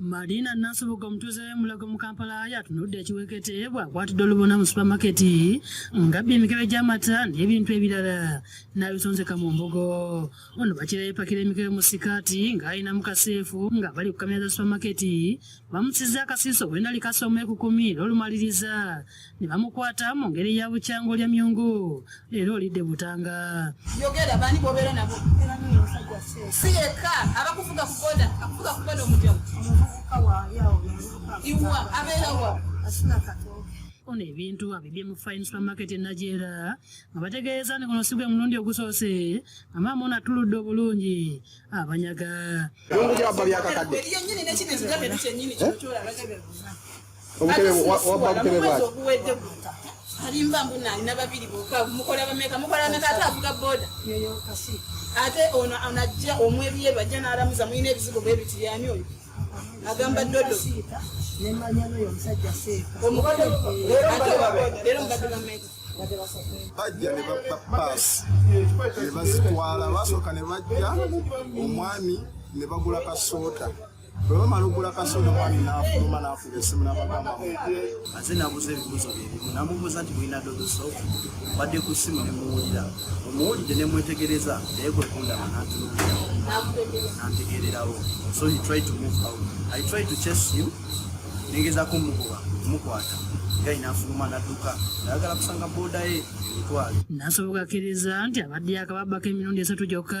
Madina Nasubuga omutuuze w'e Mulago mu Kampala yatunudde ekiwekete bw'akwatidde olubona mu supamaketi ng'abbye emikebe gy'amata n'ebintu ebirala n'abisonzeka mu mbugo. Ono bakira yepakira emikebe mu sikaati ng'alina mu kaseefu ng'abali ku kamera za supamaketi bamusizza akasiiso bwe nali kasoma ekukumi n'olumaliriza. ne bamukwata mu ngeri ya bukyanga olya myungu leero olidde butanga yogera bani bobeera nabo si yekka abakuvuga kuboda akuvuga kuboda omujamu iwa abeera wa ono ebintu abibye mu fine supermarket e najeera nga bategeeza ni guno si gwe mulundi ogusoose nga maama ono atuludde obulungi abanyaga byakakadde alimba mbu nalina babiri boka mukola bameka mukola bameka ate avuga boda ate ono anajja omwebyeru ajja nalamuza mulina ebizigo bebiti yani oyo agamba dodo omukole lero mbadde bameka bajja ne bapaasi ne bazitwala basooka ne bajja omwami ne bagula kasoota bwe bamala okugula kasoda omwami n'afuluma n'afuga essimu n'abagamba aze nabuuza ebibuuzo byebimu namubuuza nti mulina dodoso badde ku ssimu ne muwulira omuwulidde ne mwetegereza naye kwe kundaba n'antunuulirawo n'antegeererawo so he tried to move out i tried to chase him nengezako mugoba mukwata gai n'afuluma n'adduka ayagala kusanga booda ye emitwalo nasobokakiriza nti abadde yakababako emirundi esatu gyokka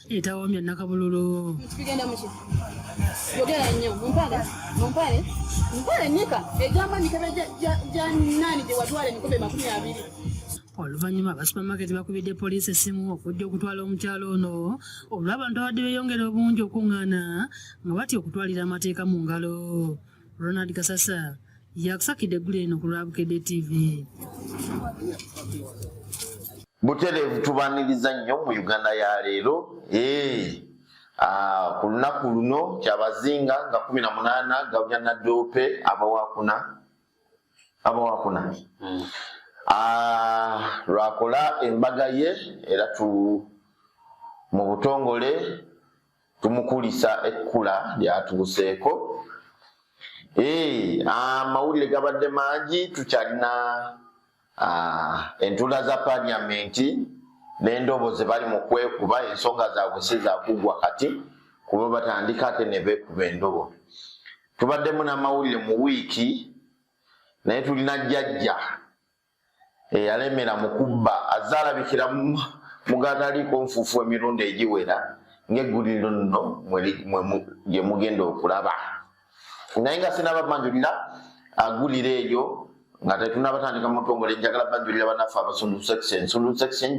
etawamya nakabululu tugenda muki yogera nnyo mumpale mumpale mumpale nika egamba mikebe gya nani gye watwala emikobe makumi abiri oluvannyuma aba supamaketi bakubidde poliisi essimu okujja okutwala omukyalo ono olw'abantu abadde beeyongera obungi okuŋŋaana nga batya okutwalira amateeka mu ngalo Ronald Kasasa yakusakidde eggulu eno ku lwa Bukedde TV. Butereevu tubaniriza nnyo mu Uganda ya leero eh, ah, ku lunaku luno kyabazinga nga kumi na munaana gabya nadoope abawakuna abawakuna hmm. ah, lwakola embaga ye era tu mu butongole tumukulisa ekkula lyatuuseeko eh, amawulire gabadde mangi tukyalina ah, entula za paliamenti nendobo zebali mukwekuba ensonga zabwe sizakugwa kati kuba batandika ate nebekuba endobo tubaddemu namawulire mu wiiki naye tulina jjajja eyalemera mu kubba azze alabikira mugataliiko nfuufu emirundi egiwera ng'egguliro nno gye mugenda okulaba naye nga sinaba banjulira agulira eyo nga tetunaba tandika mutongole njagala banjulira banaffe abasundu section sundu section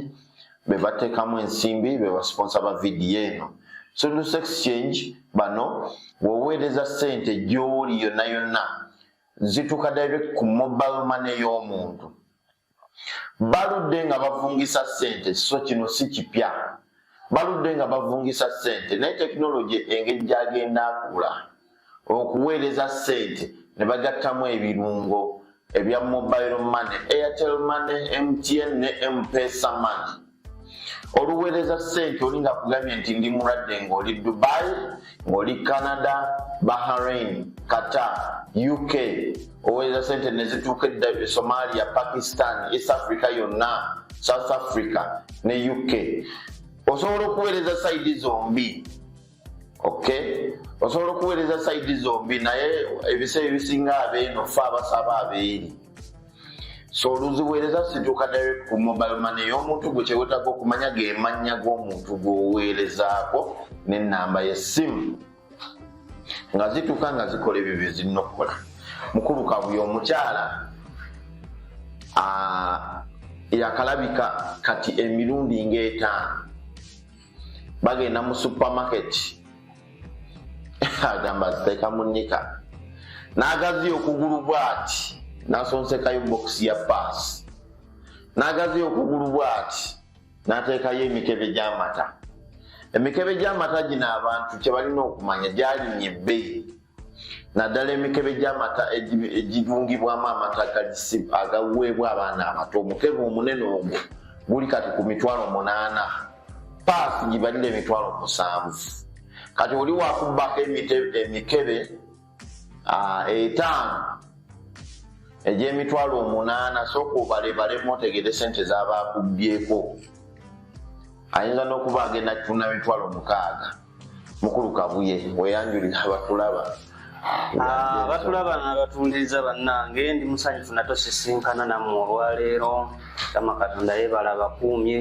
be bateekamu ensimbi be basiponsa ba vidiyo eno sundu exchange bano woweereza ssente gy'oli yonna yonna zituka direct ku mobile money y'omuntu baludde nga bavungisa sente so kino si kipya baludde nga bavungisa sente naye tekinologi engeri gyagenda akula okuweereza sente ne bagattamu ebirungo ebya mobile money airtel money mtn ne mpesa money oluweereza sente oli nga kugambye nti ndi mulwadde ng'oli dubai ng'oli canada bahrain qatar uk oweereza sente nezituuka edda e somalia pakistan east africa yonna south africa ne uk osobola okuweereza saidi zombi ok osobola okuweereza saidi zombi naye ebiseera ebisinga abeeno fe abasaba abeeri so oluziweereza situuka direct ku mobile mane ey'omuntu gwe kyewetaga okumanya gemannya g'omuntu gweoweerezaako n'ennamba y'essimu nga zituuka nga zikola ebyo bye zirina okukola mukulu kabuya omukyala yakalabika kati emirundi ng'etaano bagenda mu supermarket agamba ziteeka mu nika n'agaziya okugulu bw'ati n'asonsekayo bokisi ya paasi n'agaziya okugulu bw'ati n'ateekayo emikebe gy'amata emikebe gy'amata gino abantu kye balina okumanya gyalinnya ebbeyi naddala emikebe gy'amata egirungibwamu amata galisibu agaweebwa abaana abato omukebe omunene ogwo guli kati ku mitwalo munaana paasi gibalira emitwalo musanvu kati oli wakubbako emikebe etaano egy'emitwalo omunaana sooka obalebalemu otegere sente z'abakubbyeko ayinza n'okuba agenda kutunda mitwalo mukaaga mukulu kabuye weyanjulira abatulaba ah, abatulaba nabatundiriza bannange ndi musanyufu natosisinkana nammwe olwaleero kama katonda yebala bakuumye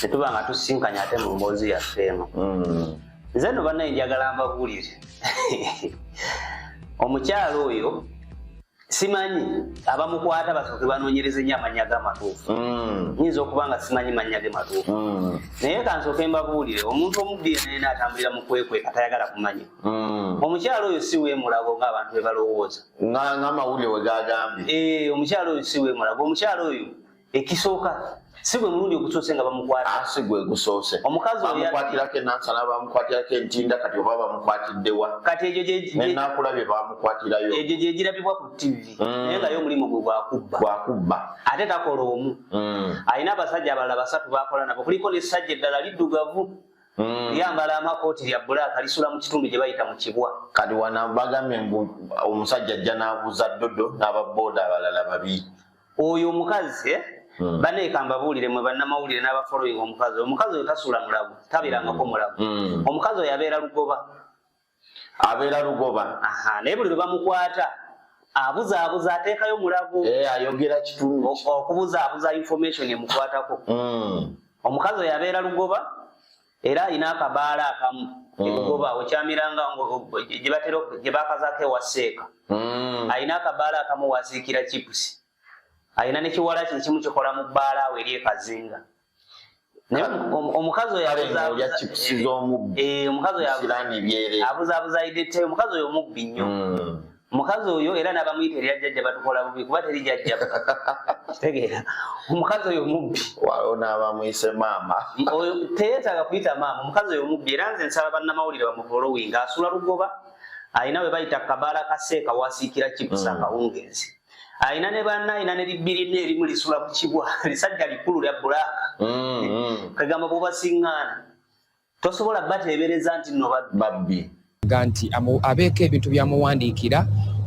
netuba nga tusinkanye ate mu mboozi yaffe eno hmm. nze no bannaye njagala mbabuulire omukyalo oyo simanyi abamukwata basooke banoonyereze nyo amannya ge amatuufu mm. nyinza okuba nga simanyi mannya ge matuufu mm. naye kansooke mbabuulire omuntu omubbiira naye naatambulira mu kwekwe atayagala kumanya mm. omukyalo oyo si weemulago ng'abantu be balowooza ng'amawulire we gagambye eh, omukyalo oyo si weemulago omukyalo oyo ekisooka si gwe mulundi ogusoose nga bamukwata ah, si gwe gusoose bamukwatirako enansana bamukwatirako entinda kati oba bamukwatiddewa kati egyo nenakula bye bamukwatirayo egyo gyegirabibwa ku tivi mm. naye ngayo omulimu gwe gwakubba gwakubba ate takola omu mm. alina abasajja abalala basatu bakola nabo kuliko nesajja eddala liddugavu Mm. yambala amakooti lya bulaaka lisula mu kitundu gye bayita mu kibwa kati wana bagambye mbu omusajja ajja n'abuuza ddodo n'ababooda abalala babi oyo omukazi eh? hmm. bane kambabuulire mwe bannamawulire n'abafollowing omukazi omukazi oyo tasula mulago tabirangako hmm. mulago hmm. omukazi oyo abeera lugoba abeera lugoba naye buli lwe bamukwata abuzaabuza ateekayo mulago eh, ayogera kitundu okubuzaabuza information emukwatako omukazi oyo abeera lugoba era alina akabaala akamu mm. ebugoba okyamiranga gyebatera gyebakazako ewa seeka mm. alina akabaala akamu waziikira chipusi alina nekiwala kye kimu kikola mu bbaala awo eri ekazinga naye omukazi oyo eh, eh, omukazi oyo abuzabuza idete omukazi oyo omubbi nnyo mm. omukazi oyo era n'abamuyita erya jjajja batukola bubi kuba teri jjajja tegeera omukazi oyo mubbi waliwo n'abamuyise maama teyetaaga kuyita maama omukazi oyo mubbi era nze nsaba bannamawulire bamufolowinga asula lugoba alina we bayita kabaala kaseeka wasiikira kibusa mm. akawungeezi alina ne banna alina ne libbirina erimu lisula ku kibwa lisajja likulu lya bulaaka mm, mm. kagamba bubasiŋŋaana tosobola bateebereza nti no babbi nga nti abeeko ebintu byamuwandiikira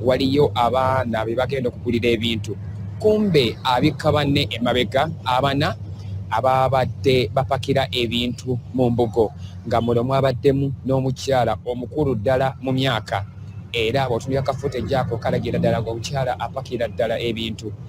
waliyo abaana be bagenda okugulira ebintu kumbe abikka banne emabega abana ababadde bapakira ebintu mu mbugo nga mulo mwabaddemu n'omukyala omukulu ddala mu myaka era bwotunira kafuta ejjaako kalagira ddala ngaomukyala apakira ddala ebintu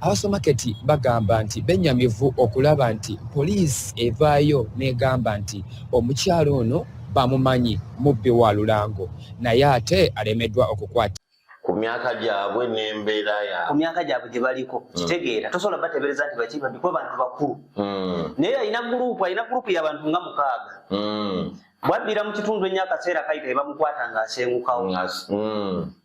Abasomaketi bagamba nti benyamivu okulaba nti poliisi evaayo n'egamba nti omukyala ono bamumanyi mubbi wa lulango naye ate alemeddwa okukwata. ku myaka gyabwe n'embeera ya ku myaka gyabwe gye baliko hmm. kitegeera tosobola bateebereza nti baki babbi kuba bantu bakulu hmm. naye alina guruupu alina guruupu y'abantu nga mukaaga hmm. bwabbira mu kitundu ennyo akaseera kayita ebamukwata ng'asengukawo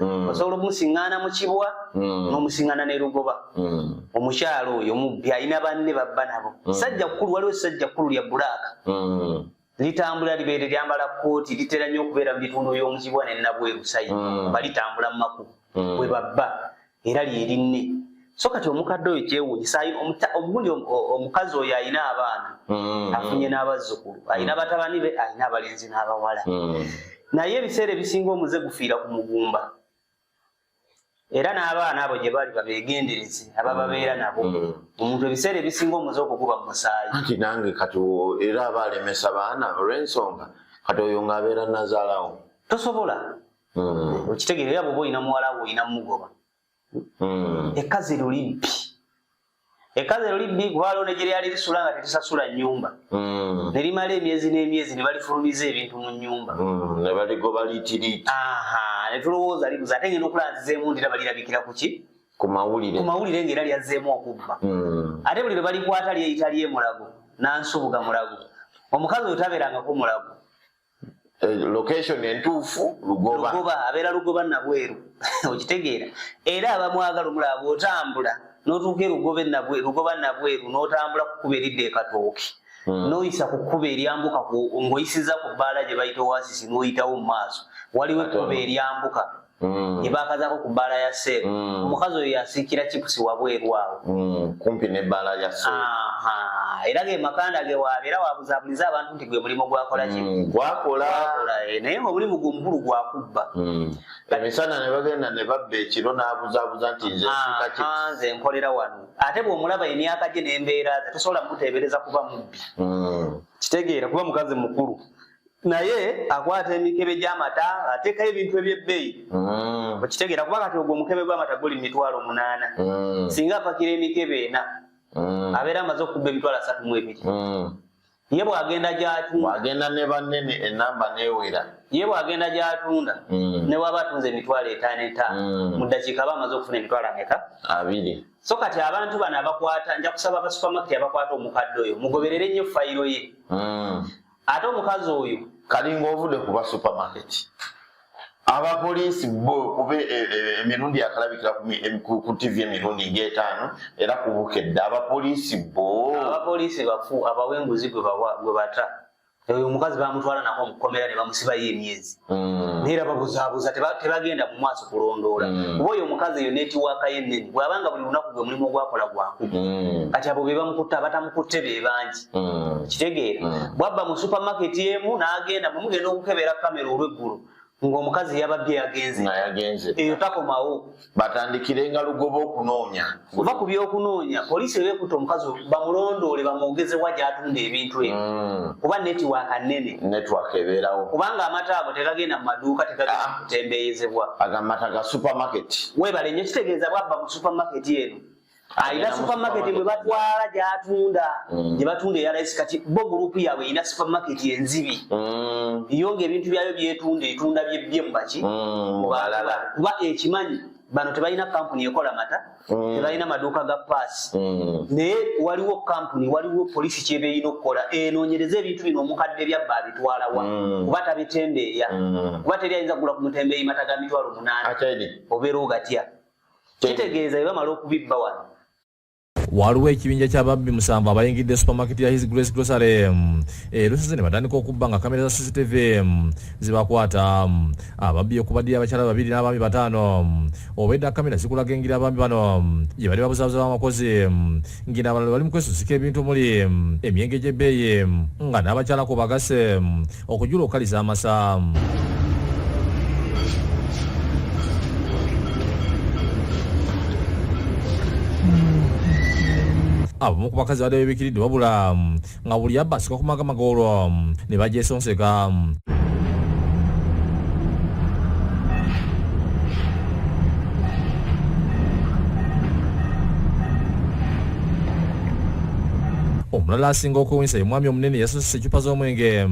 Mm. osobola okumusiŋŋaana mu kibwa mm. n'omusiŋŋaana ne lugoba mm. omukyalo oyo mubbi alina banne babba nabo sajja kkulu waliwo esajja kkulu lya bulaaka litambula libeere lyambala kkooti litera nnyo okubeera mu bitundu by'omukibwa ne nabweru sayi balitambula mu makubo bwe babba era lyerinne so kati omukadde oyo kyewunyisa ogundi omukazi oyo alina abaana mm. afunye n'abazzukulu alina mm. batabani be alina abalenzi n'abawala mm. naye ebiseera ebisinga omuze gufiira ku mugumba era n'abaana abo gye bali babeegendereze abababeera nabo omuntu ebiseera ebisinga omuze okukuba mu musaayi anti nange kati era aba alemesa baana olw'ensonga kati oyo ng'abeera nazaalawo tosobola mm. okitegera era bwoba olina muwala wo olina mugoba mm. ekazi lulibbi ekazi lulibbi kuba lona gye lyali lisula nga tetisasula nyumba mm. ne limala emyezi n'emyezi ne balifulumiza ebintu mu nyumba mm. ne baligoba liitiriiti ne tulowooza libuza ate ngenda okulaba nzizeemu ndira balirabikira ku ki ku mawulire ku mawulire ng'era lyazzeemu okubba mm. ate buli lwe balikwata lyeyita lyemulago nansubuga mulago omukazi oyo tabeerangako mulago Eh, location entuufu lugoba lugoba abeera lugoba nabweru okitegeera era abamwagala omulaba bwotambula notuuka erugoba nabweru lugoba nabweru notambula kukuba eridda ekatooki hmm. noyisa ku kkuba eryambuka ng'oyisiza ku bbaala gye bayita oasisi n'oyitawo mu maaso waliwo ekkuba eryambuka mm. ebakazako ku bbaala ya seeru mm. omukazi oyo yasiikira chipusi wabweru awo mm. kumpi ne bbaala ya seeru era ge makanda ge wabeera wabuzabuliza abantu nti gwe mulimu gwakola ki mm, gwakola eh, naye omulimu gwe omukulu gwakubba mm. emisana ne bagenda ne babba ekiro n'abuzabuza nti nze nze nkolera wano ate bw'omulaba emyaka gye n'embeera ze tosobola muteebereza kuba mubbi mm. kitegeera kuba mukazi mukulu naye akwata emikebe gy'amata ateekayo ebintu eby'ebbeeyi mm. okitegeera kuba kati ogwo omukebe gw'amata guli mitwalo munaana mm. singa apakira emikebe ena mm. abeera amaze okubba emitwalo asatu mu ebiri ye bw'agenda gy'atunda agenda ne bannene enamba n'ewera ye bw'agenda gy'atunda ne bw'aba atunze emitwalo etaano etaano mu ddakiika aba amaze okufuna emitwalo ameka abiri so kati abantu bano abakwata nja kusaba abasupamaketi abakwata omukadde oyo mugoberere nnyo fayiro ye ate omukazi oyo kalinga ovude kuba supermarket abapoliisi bo kuba e, e, e, emirundi akalabikira ku tv emirundi ngaetaano era kubukedde abapoliisi bo abapoliisi bafu abawa enguzi gwe bata oyo omukazi bamutwala nako mukomera nebamusibayo emyezi mm. naye era babuzabuza tebagenda mu maaso kulondoola mm. kuba oyo omukazi eyo netiwaaka ye nnene bwabanga buli lunaku gwe mulimu ogwakola gwakumu mm. kati abo bebamukutte abatamukutte be bangi mm. kitegeera mm. bwabba mu supermarket emu n'agenda mwe mugenda okukebera kamera olweggulo ng'omukazi yabadde yagenze yagenze eyo takomawo batandikire nga lugoba okunoonya kuva ku by'okunoonya poliisi ebeekuta omukazi bamulondoole bamwogezewa gy'atunda ebintu ebyo mm. kuba netiwaaka nnene netiwaaka ebeerawo kubanga amata ago tegagenda mu maduuka tegagenda ah. kutembeeyezebwa agamata ga supermarket weebale nnyo kitegeeza bwabba mu supermarket eno alina supermarket bwe batwala gyatunda mm. gye batunda eyalayisi kati bo gurupu yaabwe erina supermarket enzibi mm. yo nga ebintu byayo byetunda etunda byebbye mu baki mm, kuba ekimanyi bano tebalina kampuni ekola mata mm. tebalina maduuka ga paasi mm. naye waliwo kampuni waliwo polisi kyeba erina okukola enoonyereza ebintu bino omukadde byabba abitwalawa mm. kuba tabitembeeya kuba teri ayinza kugula ku mutembeeyi mata ga mitwalo munaana obeera ogatya kitegeeza bebamala okubibba wano waliwo ekibinja kyababbi musanvu abayingidde supermarket ya his grace grocery mm, erusizi eh, ne batandika okubba nga kamera za cctv mm, zibakwata mm, ababbi okubaddiyo abakyala babiri n'abaami bataano obwedda kamera zikulaga engeri abaami bano gye bali babuzabuza bamakozi ngina abalala bali mu kwesusika ebintu omuli emyenge gy'ebbeeyi nga n'abakyala ku bagase okujula okukaliza amasaamu abamu ku bakazi badde bebikiridde wabula nga buli abba asika ku magama g'olwo ne bagyesonseka omulala asinga okuwunyisa ye mwami omunene oluusi ecupa z'omwenge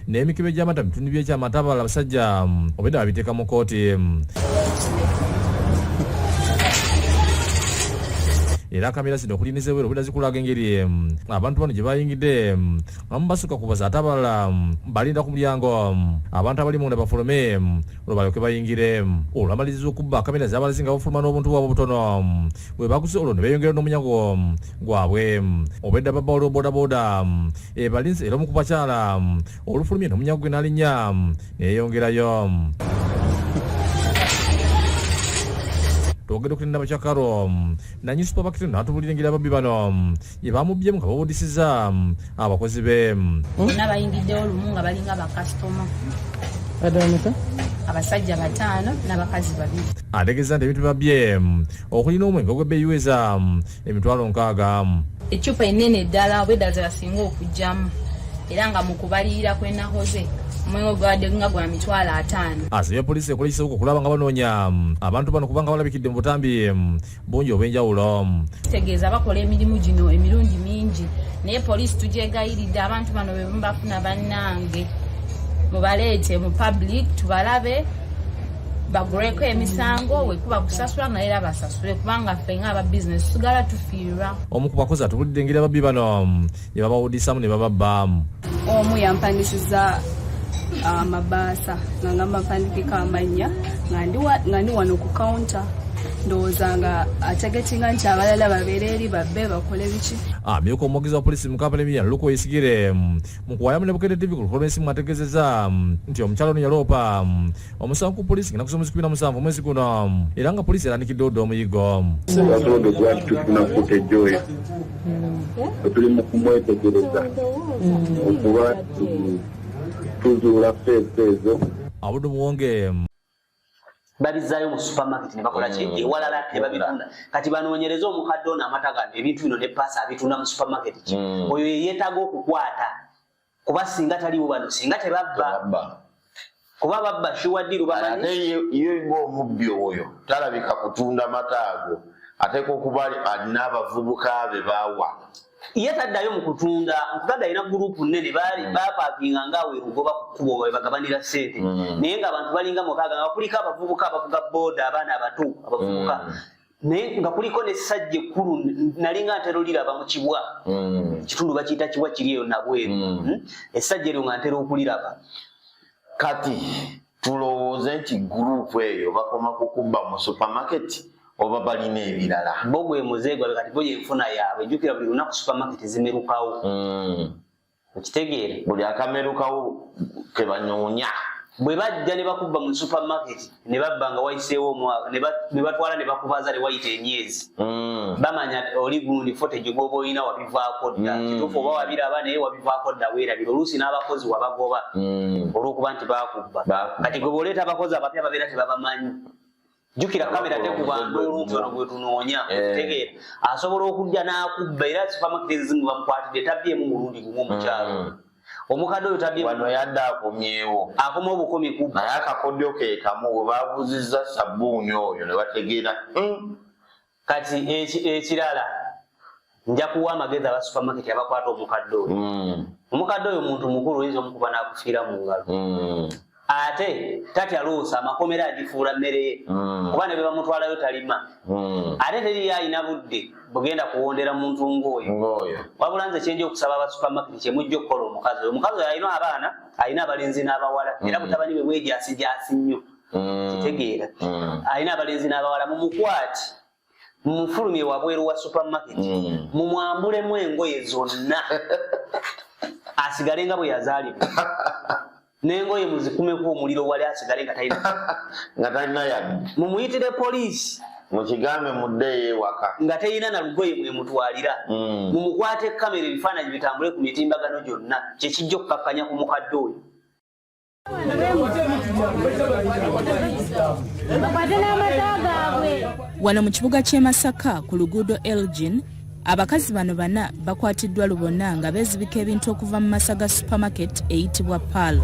n'emikebe gy'amata bitundu by'ekyamata abala abasajja obwedda babiteeka mu kooti era kamera zino okuli nezeweera obwedda zikulaga engeri abantu bano gye bayingidde abamu basukka kubaza ate abalala balinda ku mulyango abantu abali munda bafulume olwo balyoke bayingire olwamaliriza okubba kamera zabalazi nga bafuluma n'obuntu bwabwe obutono bwe baguze olwo ne beeyongera n'omunyago gwabwe obwedda babba waliwo bodaboda ebalinze era omu ku bakyala olufulumye n'omunyago gwe n'alinnya neeyongerayo twogedde okulinda bakyakaro nanyi supabakiti natubulira engeri ababbi bano bye bamubyemu nga bawudisiza mm, abakozi be mm. bonna bayingiddewo lumu nga balinga bakasitoma abasajja bataano n'abakazi babiri ategeeza nti ebintu babye mm, okulina omwenge ogwebeyiweza emitwalo nkaaga ecupa enene eddala oba eddala zebasinga okugyamu era nga mu kubalirira kwenahoze omwenge gwabadde nga gwa mitwalo ataano asabye ah, poliisi ekolekiseko okulaba nga banoonya mm, abantu bano kubanga balabikidde mu butambi mm, bungi obwenjawulo kitegeeza bakola emirimu gino emirundi mingi naye poliisi tugyegayiridde abantu bano bebubafuna bannange mubaleete mu public tubalabe baguleko emisango wekuba kusasula naye era basasule kubanga ffe nga aba bizinesi tusigala tufiirwa omu ku bakozi atubulidde engeri ababbi bano ne babawudisaamu ne baba baamu omu yampandisiza amabaasa ah, nga ngamba mpandikeko amannya nga ndi wano ku kawunta ndowooza nga ategetinga nti abalala babeera eri babbe bakole biki amyuka ah, omwogezi wa polisi mu kampala emiya luko isigire mm, mu kuwayamu ne bukedde tv ku luholomensi mwategezeza mm, nti omukyalo ono yaloopa mm, omusango ku poliisi ngena kusoma kikumi na musanvu omwezi guno era nga poliisi erandikidde odda omuyiggo waboodo gwati tufuna footage oyo wetuli mu kumwetegereza okuba tuzuula feesi ezo abudu muwonge babizaayo mu supermarket ne bakola ki mm. ewalala ne babitunda kati banoonyereza omukadde ono amata gano ebintu bino ne paasa abitunda mu supermarket ki mm. oyo yeyeetaaga okukwata kuba singa taliwo bano singa tebabba kuba babba shiwadiru bamanyi ye ng'omubbi oyo talabika kutunda mata ago ateeka okuba alina abavubuka be bawa ye taddayo mu kutunda nkugaga alina gurupu nnene baali mm. bapakinga ngaawe lugoba ku kkubo we bagabanira ssente mm. naye ng'abantu balinga mukaaga nga bakulika abavubuka abavuga booda abaana abato abavubuka mm. naye nga kuliko nesajja ekkulu nalinga ntera oliraba mu kibwa mm. kitundu bakiyita kibwa kiri eyo nabweru mm. hmm? esajja eryo nga ntera okuliraba kati tulowooze nti gurupu eyo bakoma kukubba mu supamaketi oba balina ebirala bo gwe muzeegwa kati bo yenfuna yaabwe jjukira buli lunaku supamaketi zimerukawo mm. okitegeera buli akamerukawo kebanyoonya bwe bajja ne bakubba mu supermarket ne babba nga wayiseewo omwaka ne batwala ne bakubaza ne wayita emyezi mm. bamanya oli gundi fotage gwoba olina wabivaako dda mm. kituufu oba wabiraba naye wabivaako dda weerabira oluusi n'abakozi wabagoba mm. olw'okuba nti bakubba kati gwe bwoleeta abakozi abapya babeera tebabamanyi jukira kamera tekubanga oluntu ono gwetunoonya tegeera asobola okujja n'akubba era sifamakitirizimu bamukwatidde tabyemu mulundi gumu omukyalo mm. omukadde oyo tabyewano yadde akomyewo akoma obukumi ku naye akakodyo kekamu webabuziza sabbuuni oyo ne bategeera hmm. kati ekirala nja kuwa amagezi aba supermarket abakwata omukadde oyo mm. omukadde oyo muntu mukulu oyinza omukuba nakufiira mu ngalo mm. ate tatya luusa amakomera agifuula mmere ye mm. kuba ne be bamutwalayo talima ate teriyo alina budde bugenda kuwondera muntu ng'oyo wabula nze kyenja okusaba aba supermarket kyemujja okukola omukazi oyo omukazi oyo alina abaana alina abalenzi n'abawala era butabani bwe bwejasijasi nnyo mm. kitegeera mm. alina abalenzi n'abawala mumukwati mumufulumye wabweru wa supermarket mm. mumwambulemu engoye zonna asigale nga bwe yazaalibwa nengoye muzikumeko omuliro wali asigale nga talina nga talina yadde mumuyitire poliisi mukigambe muddeyo ewaka nga teyina na lugoye mwe mutwalira mm. mumukwate kamera ebifaananyi bitambule ku mitimbagano gyonna kyekijja okukakkanya ku mukadde oyo wano mu kibuga ky'e masaka ku luguudo elgin abakazi bano bana bakwatiddwa lubona nga beezibika ebintu okuva mu masaga supermarket eyitibwa pal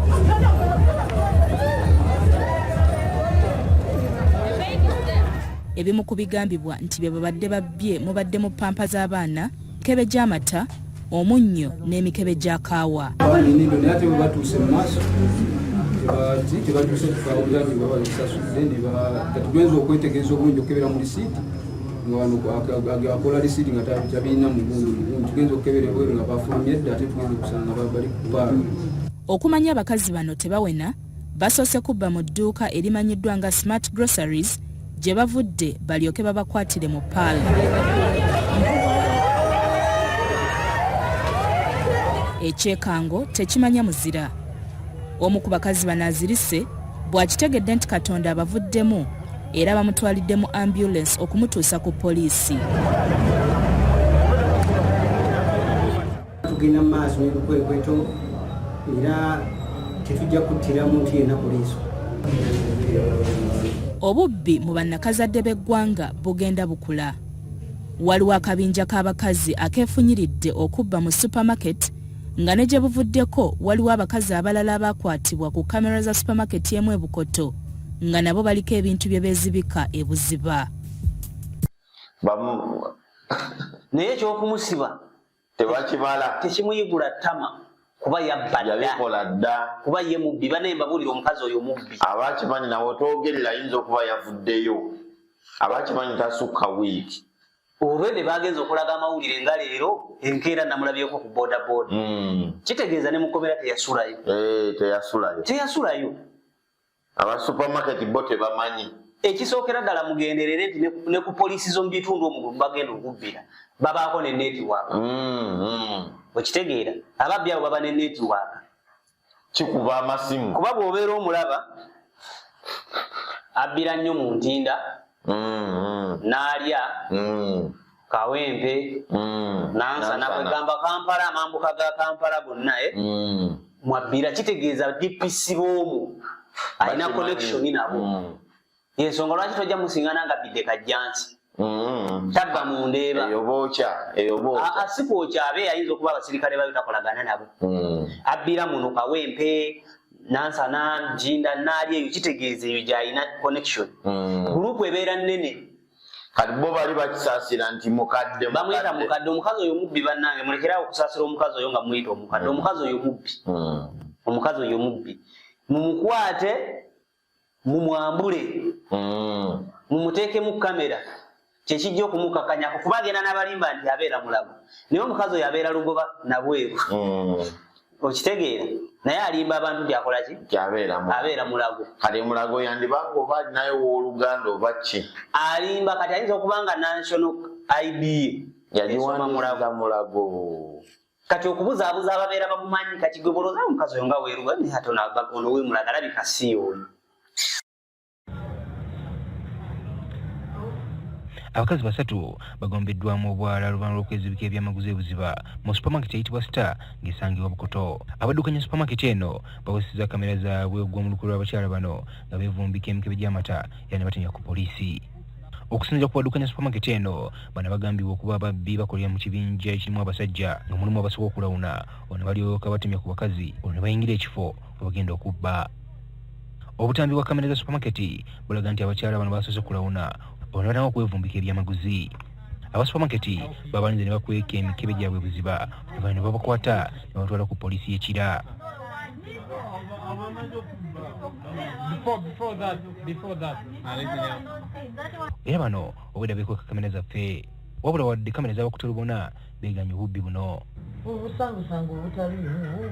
ebimu ku bigambibwa nti bye babadde babbye mubadde mu pampa z'abaana mikebe gy'amata omunnyo n'emikebe gya kaawa tebatuuse okwetegereza obulungi okukebera mu lisiiti akola lisiiti nga tabirina mugundu tugenza okukebera ebweru nga bafulumye dda ate tugenza okusanga bali kubaalo okumanya abakazi bano tebawena basoose kubba mu dduuka erimanyiddwa nga smart groceries gye bavudde balyoke babakwatire mu paala ekyekango tekimanya muzira omu ku bakazi bano azirise bw'akitegedde nti katonda abavuddemu era bamutwalidde mu ambulensi okumutuusa ku poliisi Tugenda mu maaso n'ebikwekweto era tetujja kuttira muntu yenna ku liiso. Obubbi mu bannakazadde b'eggwanga bugenda bukula. Waliwo akabinja k'abakazi akeefunyiridde okubba mu supamaketi nga ne gye buvuddeko waliwo abakazi abalala abaakwatibwa ku kamera za supamaketi emu e Bukoto nga nabo baliko ebintu bye beezibika e Buziba. naye ekyokumusiba tebakibala tekimuyigula ttama kuba yabbadayabikola dda kuba ye mubbi banaye mbabuulira omukazi oyo mubbi abakimanyi nawe otwogerera ayinza okuba yavuddeyo abakimanyi tasukka wiiki olwedde bagenza okulaga amawulire nga leero enkeera namulabyeko ku bodaboda hmm. kitegeeza ne mukomera teyasulayo eh, teyasulayo aba supermarket bo tebamanyi ekisookera ddala mugenderere nti ne ku poliisi z'omu bitundu omwo bagenda okubbira babaako ne netiwaaka mm, mm. okitegeera ababbi abo baba ne netiwaaka kikuba amasimu kuba bw'obeera omulaba abbira nnyo mu ntinda mm, n'alya kawempe mm. nansana kwegamba kampala amambuka ga kampala gonna e eh? mm. mwabbira kitegeeza dpc boomu alina connection nabo mm. yensonga lwaki tojja musingana nga bidde kajjansi mm. tabba mu ndeeba sikwokya abe ayinza okuba abasirikale bayo takolagana nabo mm. abbira muno kawempe nansana jinda naali eyo kitegeeza eyo gyalina connection mm. gulupu ebeera nnene kati bo bali bakisaasira nti mukadde bamuyita mukadde omukazi oyo mubbi bannange mulekerawo okusaasira omukazi oyo nga muyita omukadde hmm. omukazi oyo mubbi hmm. omukazi oyo mubbi mumukwate mumwambule hmm. mumuteekemu kamera kyekijja okumukakanyako kuba agenda n'abalimba nti abeera mulago naye omukazi oyo abeera lugoba nabweru okitegeera naye alimba abantu nti akola ki abeera mulago kati mulago yandibanga oba alinayo wooluganda oba ki alimba kati ayinza okuba nga national id yagiwandiika mulago kati okubuzaabuza ababeera bamumanyi kati gwe bolooza omukazi oyo nga weeruga naye ate ono wemulaga alabika si oyo abakazi basatu bagombeddwamu obwala luvanhu lw'okwezibika ebyamaguzi ebuziba mu supermarket eyitibwa star ng'esangibwa bukoto abaddukanya supermarket eno baweseza kamera zaabwe ogw'omulukulu lw'abakyala bano nga bevumbika emikebe gy'amata era ne batenya ku poliisi okusinzira ku baddukanya supermarket eno bano bagambibwa okuba ababbi bakolera mu kibinja ekirimu abasajja nga mulimu abasobola okulawuna ono balyoka batemya ku bakazi olwo ne bayingira ekifo webagenda okubba Obutambi bwa kamera za supermarket bulaga nti abakyala bano basoose kulawuna ono batanga okwevumbika ebyamaguzi aba supermarket babalinze ne bakweka emikebe gyabwe buziba oluvanyuma ne babakwata ne batwala ku poliisi y'ekira era bano obweda bekweka kamera zaffe wabula wadde kamera zabakuta lubona beganye obubbi buno obusangusangu obutali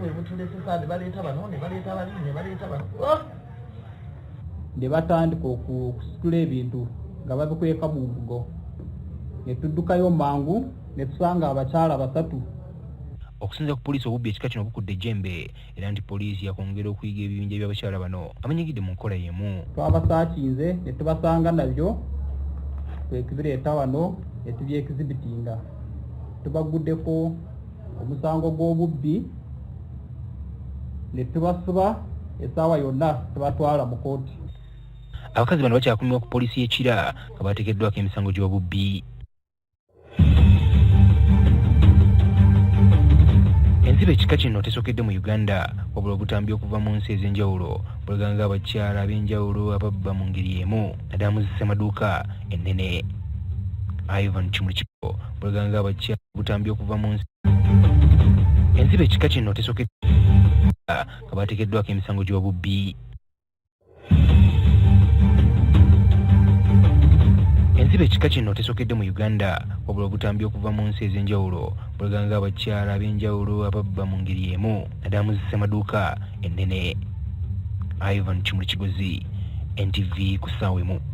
bwe butulesesa ne baleeta bano ne baleeta bali ne baleeta bano oh! ne batandika okusitula ebintu nga babikweka mu mbugo ne tuddukayo mangu ne tusanga abakyala basatu okusinzira ku poliisi obubbi ekika kino bukudde ejjembe era nti poliisi yakwongera okuyiga ebibinja by'abakyala bano abanyigidde mu nkola y'emu twabasaakinze ne tubasanga nabyo kwekibireeta wano ne tubyekizibitinga tubaguddeko omusango gw'obubbi ne tubasiba esaawa yonna tubatwala mu kooti abakazi bano bakyakumirwa ku poliisi y'ekira nga bateekeddwako emisango gy'obubbi ensiba ekika kino tesokedde mu uganda wabula obutambi okuva mu nsi ez'enjawulo bulaganga abakyala ab'enjawulo ababba mu ngeri emu naddala mu zisemaduuka ennene ivan kimuli kiko bulaganga abakyala obutambi okuva mu nsi ensiba ekika kino tesokedde nga baatekeddwako emisango gy'obubbi ensiba ekika kino tesokedde mu uganda wabula obutambi okuva mu nsi ez'enjawulo bulaganga abakyala ab'enjawulo ababba mu ngeri emu naddala mu zisemaduuka ennene ivan kimuli kigozi ntv ku ssaawa emu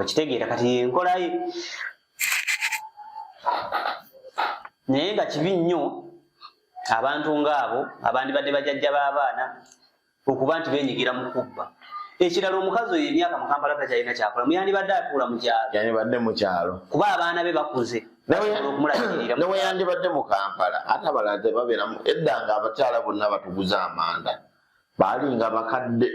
okitegeera kati yenkolaye naye nga kibi nnyo abantu ngaabo abandibadde bajajja b'abaana okuba nti benyigira mu kubba ekirala omukazi oyo emyaka mu kampala takyalina kyakola muyandibadde atuula mu kyalo yandibadde mu kyalo kuba abaana be bakuze neweyandibadde mu kampala ate abalala tebabeeramu edda nga abakyala bonna batuguza amanda baali nga bakadde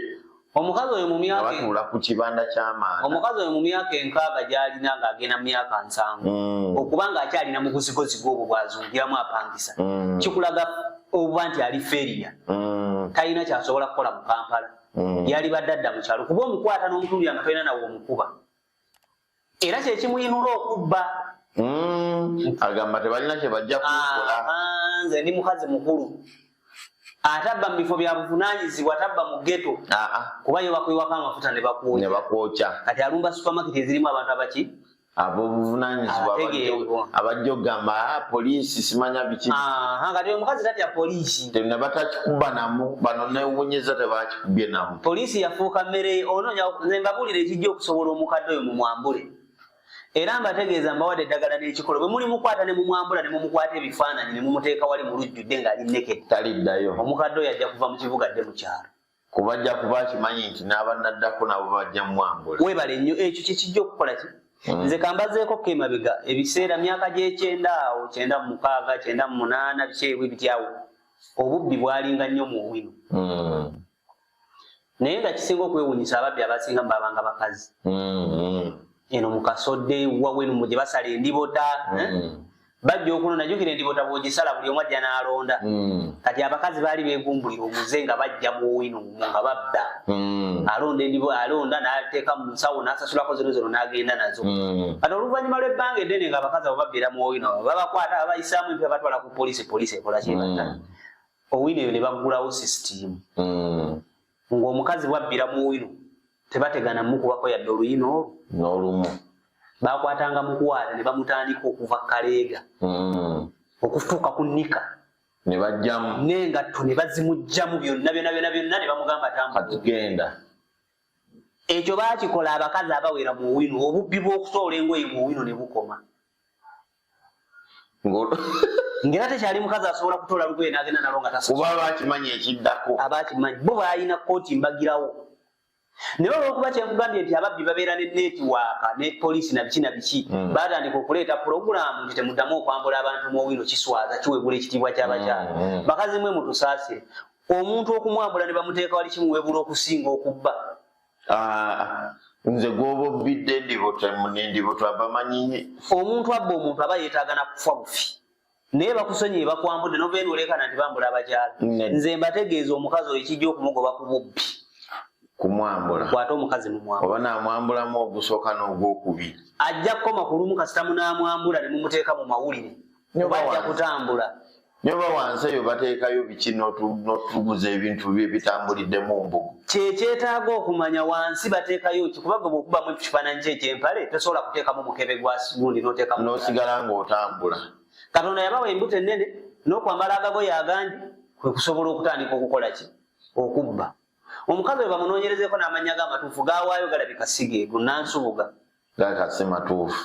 omukazi oyo mumyakabatuula ku kibanda kyamaana omukazi oyo mu myaka enkaaga gyalina ng'agenda mu myaka nsanvu mm. okuba ng'akyalina mu buzigozigo obwo bwazungiramu apangisa mm. kikulaga obuba nti ali feriya mm. talina kyasobola kukola mu kampala yali badde adda mu kyalo kuba omukwata n'omutundu yanga tolina nawe omukuba era kyekimuyinula okubba hmm, agamba tebalina kyebajja kukola nze ndi mukazi mukulu atabba mu bifo bya buvunanyizibwa tabba mu geto kuba yo bakuyiwako amafuta ne bakwokya kati alumba supamaketi ezirimu abantu abaki abobuvunanyizibwa abajja okugamba ah, poliisi simanya biki kati omukazi tatya poliisi nabatakikuba namu bano newunyeza tebaki byenamu poliisi yafuuka mmere onoonya nembabuulira ekijja okusobola omukadde oyo mumwambule era mbategeeza mbawadde eddagala n'ekikolo bwe muli mukwata ne mumwambula ne mumukwata ebifaananyi ne mumuteeka wali mu lujjudde ng'ali nneke taliddayo omukadde oyo ajja kuva mu kibuga dde mu kyalo kuba ajja kuba akimanyi nti n'abanaddako nabo bajja mumwambula weebale nnyo ekyo kye kijja okukola ki Mm. nze kambazeeko ko emabega ebiseera myaka gyekyenda awo kyenda mumukaaga kyenda mumunana bikyebwe bityawo obubbi bwalinga nnyo mu owino hmm. naye nga kisinga okwewunyisa ababbi abasinga mubabanga bakazi hmm. eno mukasodde wawenu mugye basala endibota eh? hmm. bajja okunona jukira endibota bwogisala buli omu ajja n'alonda kati abakazi baali begumbulira omuze nga bajja mu owino nga babba hmm. alonda endibo alonda nateeka mu nsawo nasasulako zino zino nagenda nazo hmm. kati oluvannyuma lw'ebbanga eddene nga abakazi abo babeera mu owino babakwata abayisaamu empi abatwala ku poliisi poliisi ekola kyebata hmm. owino eyo ne baggulawo sisitiimu ng'omukazi bwabbira mu owino tebategana mukubako yadde oluyina olwo n'olumu bakwatanga mukwata ne bamutandika okuva kaleega okutuuka ku nika ne bajjamu n'engatto ne bazimujjamu byonna byona byona byonna ne bamugamba tambagenda ekyo bakikola abakazi abawera mu wino obubbi bw'okusoola engoye mu wino ne bukoma ngera tekyali mukazi asobola kutoola lugoye n'agenda nalo nga tasobola kuba bakimanyi ekiddako abakimanyi bo balina kkooti mbagirawo naye olwokuba kyekugambye nti ababbi babeera ne netiwaaka ne poliisi na biki na biki mm. batandika okuleeta pulogulaamu nti temuddamu okwambula abantu mu owino kiswaza kiwebula ekitiibwa kyabakyala mm, mm. bakazi mwe mutusaasire omuntu okumwambula ne bamuteeka wali kimuwebula okusinga okubba ah, nze gwoba obbidde ndibotamunendibotwa bamanyi omuntu abba omuntu aba yeetaaga na kufa bufi naye bakusonyiye bakwambudde novenuulekana nti bambula abakyala nze mbategeeza omukazi oyo kijja okumugoba ku bubbi kumwambula kwata omukazi mumwambula oba namwambulamu ogusooka n'ogwokubiri ajja kukoma ku lumu kasita munamwambula ne mumuteeka mu mawulire oba ajja kutambula nyoba wansi eyo bateekayo biki notuguza ebintu bye bitambulidde mu mbugu kyekyetaaga okumanya wansi bateekayo ki kuba gwe bwokubamu ekifaananyi kyo ekyempale tosobola kuteekamu mukebe gwa gundi noteekamu nosigala ng'otambula katonda yabawa embuto ennene n'okwambala agagoyo agangi kwe kusobola okutandika okukola ki okubba omukazi we bamunoonyerezeeko n'amannya g'amatuufu gawaayo galabika sigeegu nansubuga gakasi matuufu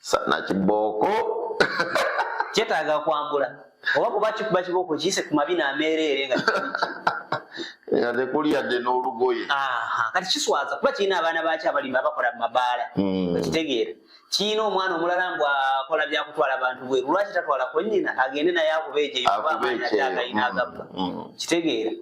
sana kibooko kyetaaga kwambula oba kuba kikuba kibooko kiyise ku mabina ameereere nga nga tekuli yadde n'olugoye kati kiswaza kuba kirina abaana baakyo abalimi abakola mu mabaala hmm. okitegeera kirina omwana omulala mbu akola byakutwala bantu bweru lwaki tatwalako nnyina agende naye akuba egyeyo oba amaanyi ate agalina agabba hmm. kitegeera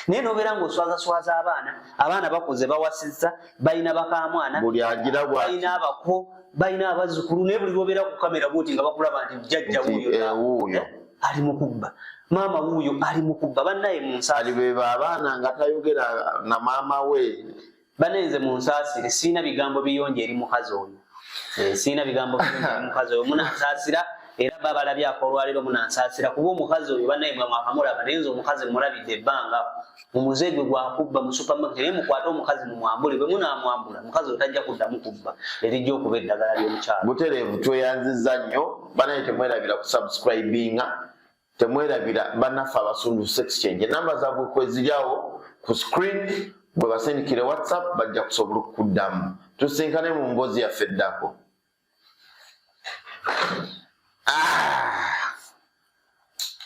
naye nobeera ngaoswazaswaza abaana abaana bakuze bawasizza balina bakamwana balina abako balina abazukulu naye buli lwobeera ku kamera bwoti nga bakulaba nti jajja wuuyo eh, eh, ali mukubba maama wuuyo ali mukubba bannaye mu nsaali beba abaana nga tayogera na maama we bane nze munsasire sirina bigambo biyonjo eri mukazi oyo eh, sirina bigambo biyonjo eri mukazi oyo munansasira era ba balabye akolwaliro munansasira kuba omukazi oyo banaye mwe mwakamulaba naye nze omukazi mulabidde ebbanga mumuze gwe gwakubba mu supermarket naye mukwate omukazi mumwambule bwe munamwambula mukazi oyo tajja kuddamu kubba erijja okuba eddagala ly'omukyalo butereevu tweyanziza nnyo banaye temwerabira kusubscribinga temwerabira banaffe abasunduse su exchange enamba zabwe kweziryawo ku screen bwe basindikire whatsapp bajja kusobola okukuddamu tusinkane mu mboozi yaffe eddako ah!